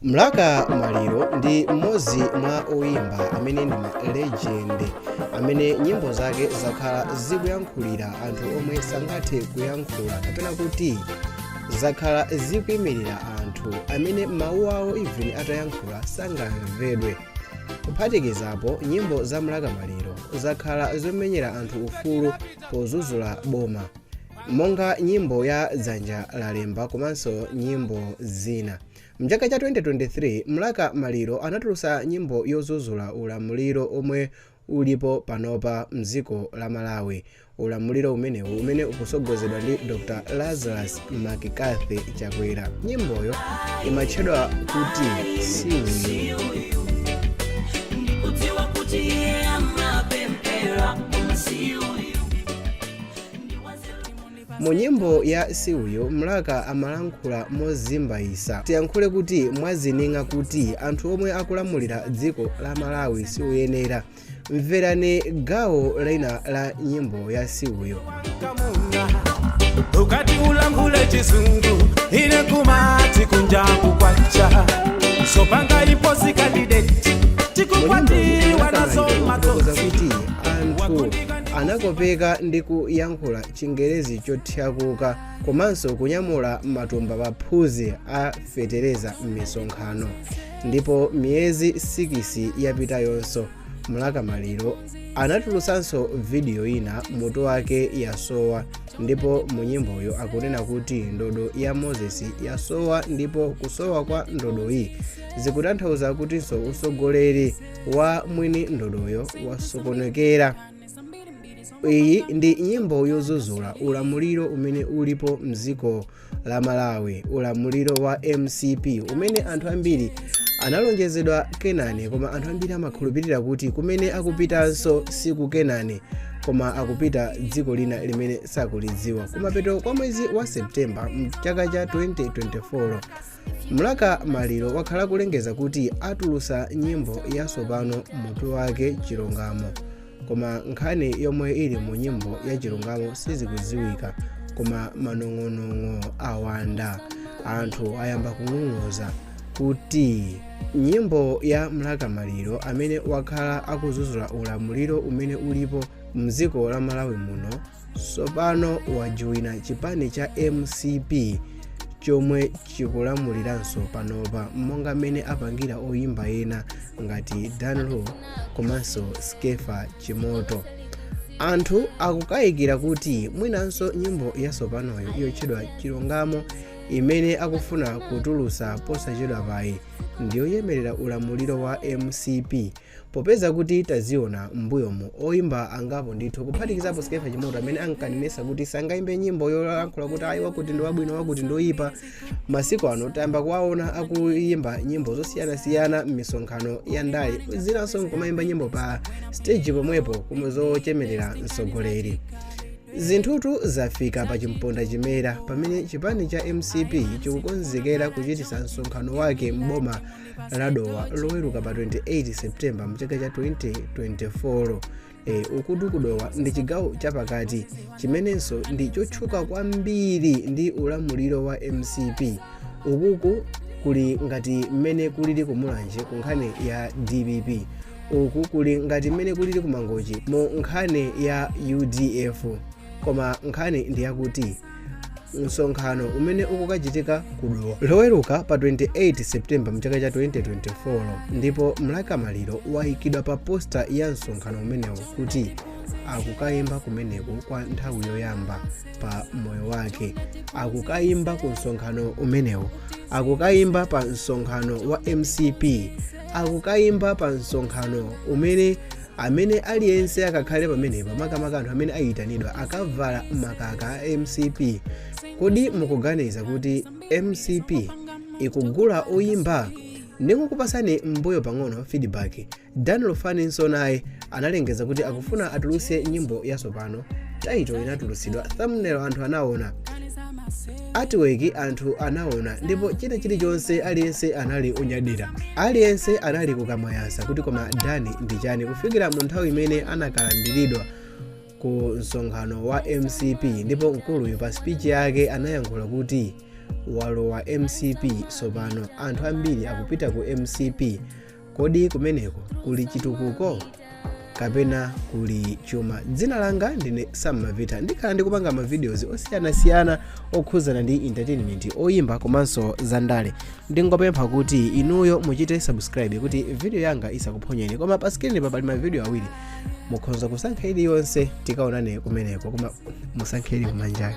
Mlaka Maliro ndi mmodzi mwa oyimba amene ndi ma legend amene nyimbo zake zakhala zikuyankhulira anthu omwe sangathe kuyankhula kapena kuti zakhala zikuyimirira anthu amene mawu awo even atayankhula sangamvedwe kuphatikizapo nyimbo za Mlaka Maliro zakhala zomenyera anthu ufulu pozuzula boma monga nyimbo ya dzanja lalemba komanso nyimbo zina Mchaka cha 2023, Mlaka Maliro anatulusa nyimbo yozuzula ulamuliro omwe ulipo panopa mdziko la Malawi. Ulamuliro umenewu umene ukusogozedwa ndi Dr Lazarus McCarthy Chakwera. Nyimboyo imatchedwa kuti siuyu. Mu nyimbo ya Si Uyu, Mlaka amalankhula mozimbayisa. Tiyankhule kuti mwazining'a kuti anthu omwe akulamulira dziko la Malawi si oyenera. Mverani gawo lina la nyimbo ya Si Uyu. ukati ulankhule chizungu ine kumati kunja kukwacha sopanga iposi kandideti tikukwatiwa nazo makoza kuti anthu anakopeka ndi kuyankhula chingerezi chothyakuka komanso kunyamula matumba paphewa a fetereza m'misonkhano ndipo miyezi 6 yapitayonso mlaka maliro anatulutsanso vidiyo ina mutu wake yasowa ndipo mu nyimboyo akunena kuti ndodo ya moses yasowa ndipo kusowa kwa ndodoyi zikutanthauza kutinso usogoleri wa mwini ndodoyo wasokonekera iyi ndi nyimbo yozuzula ulamuliro umene ulipo mdziko la malawi ulamuliro wa mcp umene anthu ambiri analonjezedwa kenani koma anthu ambiri amakhulupirira kuti kumene akupitanso siku kenani koma akupita dziko lina limene sakulidziwa kumapeto kwa mwezi wa septemba mchaka cha 2024 mlaka maliro wakhala kulengeza kuti atulusa nyimbo yasopano mutu wake chilungamo koma nkhani yomwe ili mu nyimbo ya chilungamo sizikudziwika koma manong'onong'o awanda anthu ayamba kung'ung'uza kuti nyimbo ya mlaka maliro amene wakhala akuzuzula ulamuliro umene ulipo mdziko la malawi muno tsopano wajoyina chipani cha mcp chomwe chikulamuliranso panopa monga mmene apangira oyimba ena ngati dan lu komanso skefa chimoto anthu akukayikira kuti mwinanso nyimbo yatsopanoyo yotchedwa chilungamo imene akufuna kutulutsa posachedwa payiyi ndiyoyemerera ulamuliro wa mcp Popeza kuti taziona m'mbuyomu oyimba angapo ndithu kuphatikizapo Skeffa Chimoto amene ankanenesa kuti sangayimbe nyimbo yolankhula kuti ayi wakuti ndi wabwino wakuti ndi oyipa, masiku ano tayamba kuwaona akuyimba nyimbo zosiyanasiyana m'misonkhano ya ndale zinanso nkumayimba nyimbo pa stage pomwepo kuma zochemerera mtsogoleri. Zinthutu zafika pa chimponda chimera pamene chipani cha mcp chikukonzekera kuchitisa msonkhano wake m'boma la dowa loweruka pa 28 septemba mchaka cha 2024 ukutu kudowa ndi chigawo chapakati chimenenso ndi chotchuka kwambiri ndi ulamuliro wa mcp ukuku kuli ngati mmene kulili kumulanje ku nkhani ya dpp uku kuli ngati mmene kulili kumangochi mu nkhani ya udf koma nkhani ndi yakuti msonkhano umene ukukachitika ku dowa loweruka pa 28 septemba mchaka cha 2024 ndipo mlaka maliro wayikidwa pa posta ya msonkhano umenewo kuti akukayimba kumeneko kwa nthawi yoyamba pa moyo wake akukayimba ku msonkhano umenewo akukayimba pa msonkhano wa mcp akukayimba pa msonkhano umene Amene aliyense akakhale pamenepa makamaka anthu amene ayitanidwa akavala makaka a mcp kodi mukuganiza kuti mcp ikugula oyimba ndikukupasani m'mbuyo pang'ono feedback dan lufani nso naye analengeza kuti akufuna atulutse nyimbo yatsopano title inatulutsidwa thumbnail anthu anaona Artwork anthu anaona ndipo china chilichonse aliyense anali unyadira. Aliyense anali kukamwa yasa kuti koma Dan ndi chani kufikira mu nthawi imene anakalandiridwa ku msonkhano wa mcp ndipo mkuluyu pa speech yake anayankhula kuti walowa mcp tsopano anthu ambiri akupita ku mcp kodi kumeneko kuli chitukuko kapena kuli chuma dzina langa ndine sammavita ndikhala ndikupanga mavideos osiyanasiyana okhuzana ndi entertainment oyimba komanso zandale ndingopempha kuti inuyo muchite subscribe kuti video yanga isakuphonyeni koma pa screen pa pali mavideo awiri mukhoza kusankha iliyonse tikaonane kumeneko koma musankhe ili kumanjayo